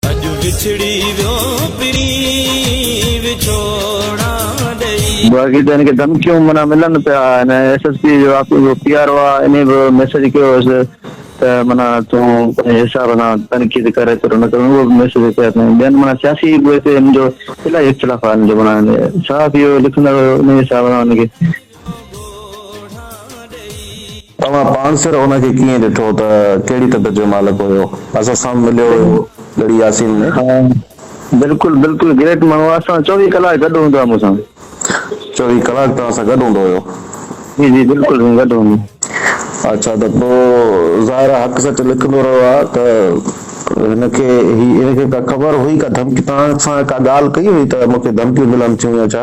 اڄ وڇڙي ويو پرين وڇوڙا ڏئي. باقي ته هن کي ڌمڪيون معنيٰ ملن پيا هن ايس ايس پي جو واقعي جو پي آر او آ انهي به ميسيج ڪيو هيس ته معنيٰ تون پنهنجي حساب سان تنقيد ڪر ايترو نه ڪر اهو به ميسيج ڪيو اٿائين ٻين معنيٰ سياسي به هتي هن جو الاهي اختلاف آ هن جو معنيٰ صحافي هو لکندڙ هو انهي حساب سان هن کي توهان پاڻسر ان کي ڪيئن ڏٺو ته ڪهڙي طبيعت جو مالڪ هيو؟ اسان سان مليو هيو ڳڙهي ياسين ۾؟ ها بلڪل بلڪل گريٽ ماڻهو آهي اسان چوويهه ڪلاڪ گڏ هوندو آهي مون سان. چوويهه ڪلاڪ توهان سان گڏ هوندو هيو؟ جي جي بلڪل سائين گڏ هوندو. اڇا ته پوء ظاهر آهي حق سچ لکندو رهيو آهي ته هن کي هي هن کي ڪا خبر هئي ڪا ڌمڪي توهان سان ڪا ڳالهه ڪئي هئي ته مون کي ڌمڪيون ملن ٿيون يا ڇا؟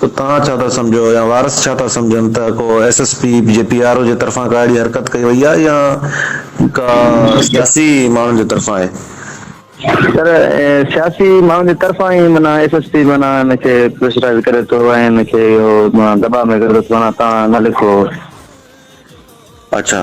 ته توهان ڇا ٿا سمجهو يا وارث ڇا ٿا سمجهن ته ڪو ايس ايس پي جي پي آر او جي طرفان ڪا اهڙي حرڪت ڪئي وئي آهي يا ڪا سياسي ماڻهن جي طرفان آهي. سر سياسي ماڻهن جي طرفان ئي معنيٰ ايس ايس پي معنيٰ هن کي پريشرائيز ڪري ٿو ۽ هن کي اهو دٻاء ۾ ڪري ٿو ته معنيٰ توهان نه لکو. اڇا.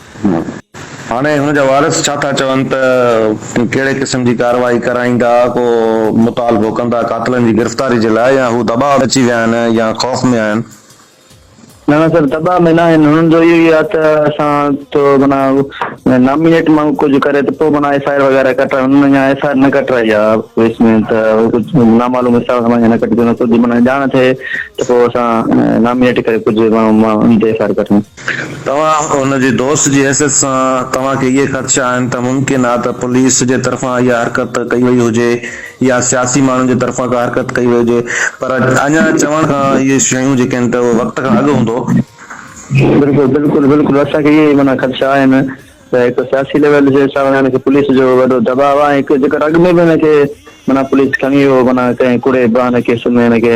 هاڻي هن جا وارث ڇا ٿا چون ته ڪهڙي قسم جي ڪارروائي ڪرائيندا، ڪو مطالبو ڪندا قاتلن جي گرفتاري جي لاء يا هو دٻاء ۾ اچي ويا آهن يا خوف ۾ آهن؟ نه نه سر دٻاء ۾ ناهن هنن جو اهو ئي آهي ته اسان ٿو معنيٰ نامينيٽ ماڻهو ڪجهه ڪري ته پوء معنيٰ ايف آء آر وغيره ڪٽرائي هنن اڃا ايف آء آر نه ڪٽرائي آهي ڪيس ۾ ته ڪجهه نامعلوم حساب سان معنيٰ نه ڪٽي سگهندو ڪجهه معنيٰ ڄاڻ ٿئي ته پوء اسان نامينيٽ ڪري ڪجهه ماڻهو ايف آء آر ڪٽيون. توهان هن جي دوست جي حيثيت سان توهان کي اهي خدشا آهن ته ممڪن آهي ته پوليس جي طرفان اها حرڪت ڪئي وئي هجي يا سياسي ماڻهن جي طرفان ڪا حرڪت ڪئي وئي هجي پر اڃا چوڻ کان اهي شيون جيڪي آهن ته اهو وقت کان اڳ هوندو. بلڪل بلڪل بلڪل اسان کي اهي ئي معنيٰ خدشا آهن ته هڪ ته سياسي ليول جي حساب سان هن کي پوليس جو وڏو دٻاء آهي ۽ هڪ جيڪر اڳ ۾ به هن کي معنيٰ پوليس کڻي هو معنيٰ ڪنهن ڪوڙي بهاني ڪيس ۾ هن کي